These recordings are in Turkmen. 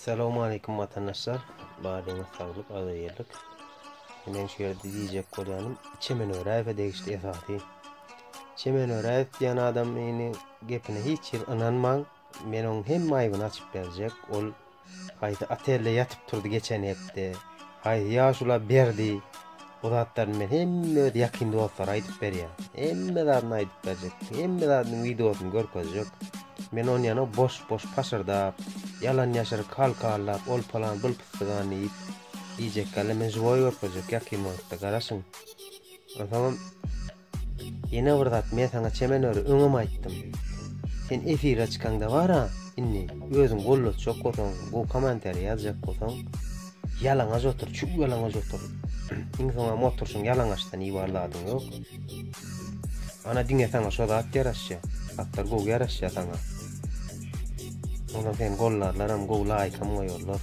Salowmaleýkim watandaşlar. Badyňyz saglyk, agzybirlik. Men şu ýerde diýjek bolýanym, Çemen Öräýewe degişli esasy. Çemen Öräýew diýen adam ýene gepine hiç ýer ynanmaň. Men onuň hemme aýbyny açyp berjek. Ol haýsy otelde ýatyp turdy geçen hepde? Haýsy ýaşula berdi? Bu zatlaryny men hemme öz ýakyn dostlara aýdyp berýän. Hemme zadyny aýdyp berjek. Hemme zadynyň wideosyny görkezjek. Men ony ýana boş-boş paşyrdap, ýalan ýaşyr kal-kallap, ol palan bul pystygan diýip, diýjek ýaly men žiwoý görkezjek ýakyn wagtda, garaşyň. Onsoňam Ýene bir zat men saňa çemen öri öňem aýtdym. Sen efire çykaňda bara indi özüň gollatjak bolsaň, gowy komentarý ýazjak bolsaň, ýalaňaç otur, çüw ýalaňaç otur. Iň soňam oturşyň ýalaňaçdan ibar zadyň ýok. Ana diňe saňa şo zat ýaraşýa. Zatlar gowy ýaraşýa saňa. Onda seni gollarlaram, gowy laýkam goýarlar.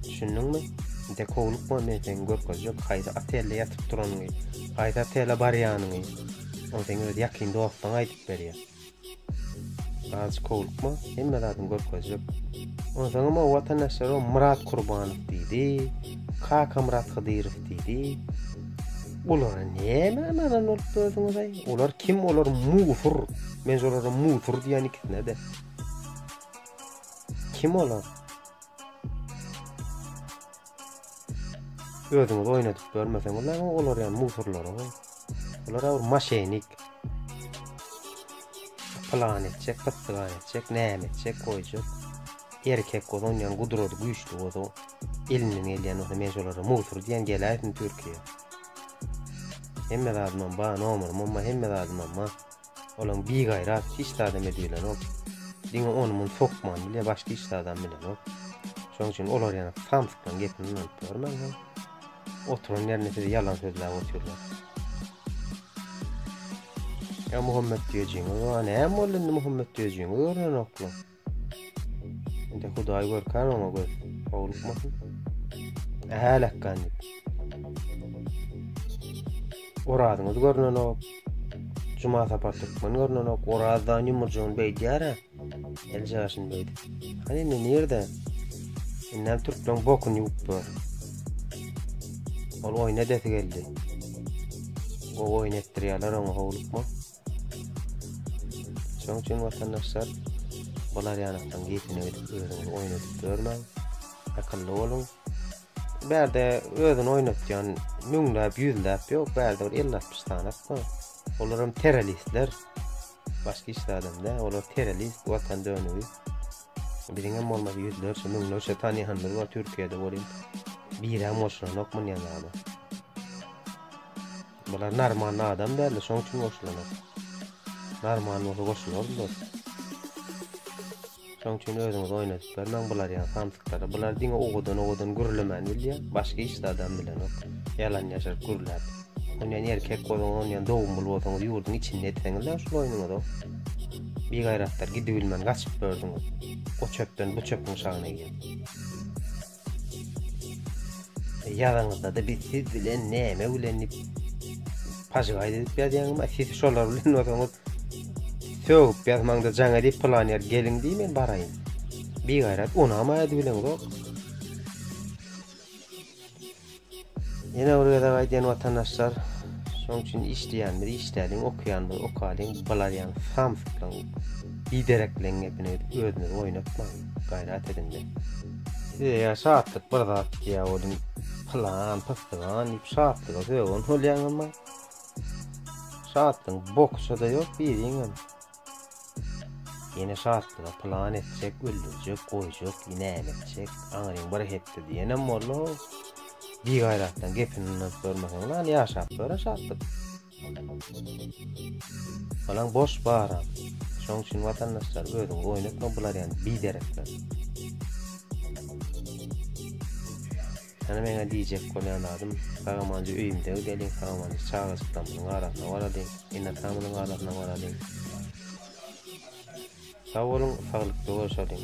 Düşündiňmi? Dekowlyk bolmaýa seň görkezjek haýsy otelde ýatyp duranyňy, haýsy otele barýanyňy. Ony seň öz ýakyn dostuň aýdyp berýär. Azjyk howlukma, hemme zadyň görkezjek. Onsoňam o watandaşlar o Myrat Kurbanow diýdi, Kaka Myrat Hydyrow diýdi. Olara näme anadan bolup dördüňiz aý? Olar kim? Olar musur. Men olara musur diýen ikisine de. Kim olar? Özüňizi oýnadyp görmeseňiz, näme olar ýaly musurlar o. Olar bir maşenik. Plan etjek, pytdygan etjek, näme etjek, goýjak. Erkek bozan ýan gudrady güýçli bozan. Elinden gelýän bolsa men şolara musur diýen geläýsin Türkiýä. Hemme zadyma ba, nomuryma, hemme zadyma ba. Olaň bi gaýrat hiç zada me diýilenok. Diňe ony muny sokman bilýä başga hiç zadam bilenok. Şoň üçin olar ýana samsykdan gepini ýanyp görmän hem oturan ýerinde sizi ýalan sözläp otyrlar. Ya Muhammet Düýejiňiz wa näme boldy indi Muhammet Düýejiňiz görnenokla. Indi Hudaý görkän oňa göz. Howlukmasyn. Äläkgan diýip. Orazyňyz görnenok. Juma sapar türkmen görnenok. Orazdan ýumurjygyny beýdýär-ä. Elji ýaşyn beýdi. Hany indi nirde? Indem türkmen bokun ýuwup dur. Ol oýna desi geldi. O oýun etdirýärler oňa howlukma. Şonuň üçin watandaşlar bular ýanykdan geçine gidip özüňizi oýnadyp görmäň. Akylly boluň. Bärde özüni oýnatýan müňläp, ýüzläp ýok, bärde bir 50-60 sanat bar. Olar hem terroristler. Başga hiç adamda, olar terrorist, watan dönügi. Biziň hem bolmasa ýüzlerçe, müňlerçe tanýanlar bar Türkiýede bolýan. Birem goşulanok mundan ýaly. Bular narmanly adam däldi, şoň üçin goşulanok. Narmanly bolsa goşulardylar. Şoň üçin özüňizi oýnadyp bermäň bular ýaly samsyklary. Bular diňe owadan owadan gürlemän bilýär, başga hiç adam bilenok. Ýalan ýaşaryp gürläp. Onýan erkek bolsaň, onýan dogumly bolsaňyz ýurduň içinde etseňiz-ä şul oýnuňyzy. Bigaýratlar gidibilmän gaçyp bördüňiz. O çöpden bu çöpüň şagyna girip. Ýazyňyzdada biz siz bilen näme bilen dip pažygaýt edip ýazýaňyzmy? A siz şolar bilen bolsaňyz sögüp ýazmaňda jaň edip plan ýer geliň diý men baraýyn. Bigaýrat unamaýady bileňzok. Ýene bir gezek aýdýan watandaşlar, şoň üçin işleýändir, işläliň, okaýandyr, okalyň, bilarýaň, samsyklaň, biderekleň gepini özünizi oýnatmaň, gaýrat ediňde. Size ýa şatlyk bir zat ýa bolun pylan, pystygan diýip şatlyga sögün bolýaň emma şatlygyň bokusada ýok biriňem. Ýene şatlyga plan etjek, öldürjek, goýjak, näme etjek, aňryň bir hepde diýenem boldy. Bigaýratdan gepini unudyp görmeseň, lan ýaşap göre şatlyk. Balaň boş bara. Şoň üçin watandaşlar özüňizi oýnatma bular ýaly biderekler. Ýöne meň-ä diýjek bolýan zadym, Sagamanjy öýümde gideliň, Sagamanjy çagajyklarymyzyň arasyna baralyň, ene-atamyzyň arasyna baralyň. Sag boluň, saglykly görşeliň!